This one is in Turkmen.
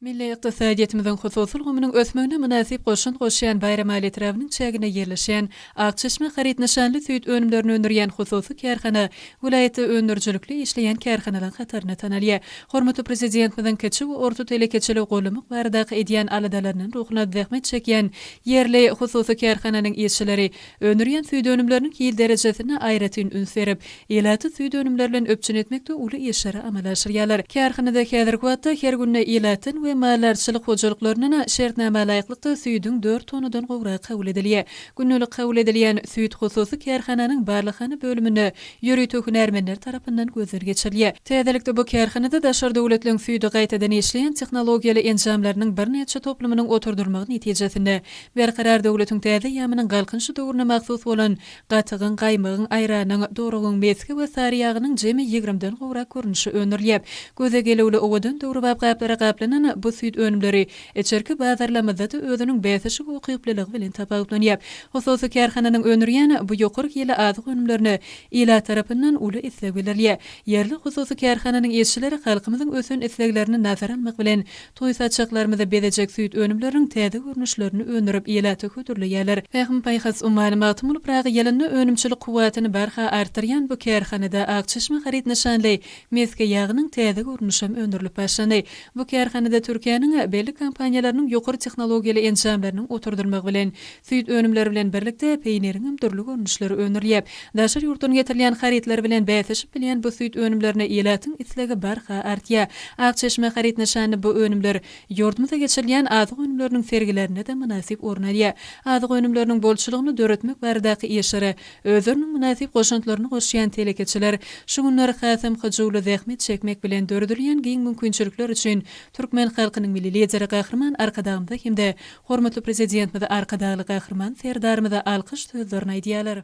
Milli ykdysadyýetimiziň hususy ulgamynyň ösmegine mynasyp goşant goşýan Baýramaly etrabynyň çäginde ýerleşýän Ak çeşme haryt nyşanly süýt önümlerini öndürýän hususy kärhana welaýatda öndürijilikli işleýän kärhanalaryň hatarynda tanalýar. Hormatly Prezidentimiziň kiçi we orta telekeçiligi goldamak baradaky edýän aladalaryndan ruhuna zähmet çekýän ýerli hususy kärhananyň işçileri Öndürýän süýt önümleriniň hil derejesine aýratyn üns berip, ilaty süýt önümleri bilen üpjün etmekde uly işleri amala aşyrýarlar. Kärhanada häzirki wagtda her günde ilatdan we maldarçylyk hojalyklaryndan şertnamalaýyklykda süýdüň dört tonnadan gowragy kabul edilýär. Gündelik kabul edilýän süýt hususy kärhananyň barlaghana bölüminde ýörite hünärmenler tarapyndan gözden geçirilýär. Täzelikde bu kärhanada daşary döwletleň süýdi gaýtadan işleýän tehnologiýaly enjamlarynyň birnäçe toplumynyň oturdylmagy netijesinde Berkarar döwletiň täze eýýamynyň Galkynyşy döwrüne mahsus bolan gatygyň, gaýmagyň, aýranyň, dorugyň, mesgi we sary ýagynyň jemi ýigrimden gowrak görnüşi öndürilýär. Göze gelüwli owadan döwrebap gaplara gaplanan bu süýt önümleri içerki bazarlamyzda-da özüniň bäsleşige ukyplylygy bilen tapawutlanýar. Hususy kärhananyň öndürýän bu ýokary hilli azyk önümlerine ilat tarapyndan uly isleg bildirilýär. Ýerli hususy kärhananyň işçileri halkymyzyň ösen isleglerini nazara almak bilen, Toý saçaklarymyzy bezejek süýt önümleriniň täze görnüşlerini öndürip, ilata hödürleýärler. Pähim-paýhas ummany Magtymguly Pyragy ýylynda önümçilik kuwwatyny barha artdyrýan bu kärhanada Akçeşme haryt nyşanly mesge ýagynyň täze görnüşem öndürilip başlandy. Bu kärhanada Türkiýäniň belli kompaniýalarynyň ýokary tehnologiýaly enjamlarynyň oturdylmagy bilen, Süýt önümleri bilen birlikde, peýniriňem dürli görnüşleri öndürilýär. Daşary ýurtdan getirilýän harytlar bilen bäsleşip bilýän bu süýt önümlerine ilatyň islegi barha artýar. Ak çeşme haryt nyşanly bu önümler ýurdumyzda geçirilýän azyk önümleriniň sergilerinde-de mynasyp orun alýar. Azyk önümleriniň bolçulygyny döretmek baradaky işlere özleriniň mynasyp goşantlaryny goşýan telekeçiler şu günler hasam hyjuwly zähmet çekmek bilen döredilýän giň mümkinçilikler üçin türkmen halkynyň Milli Lideri Gahryman Arkadagymyza hem-de Hormatly Prezidentimiz Arkadagly Gahryman Serdarymyza alkyş sözlerini aýdýarlar.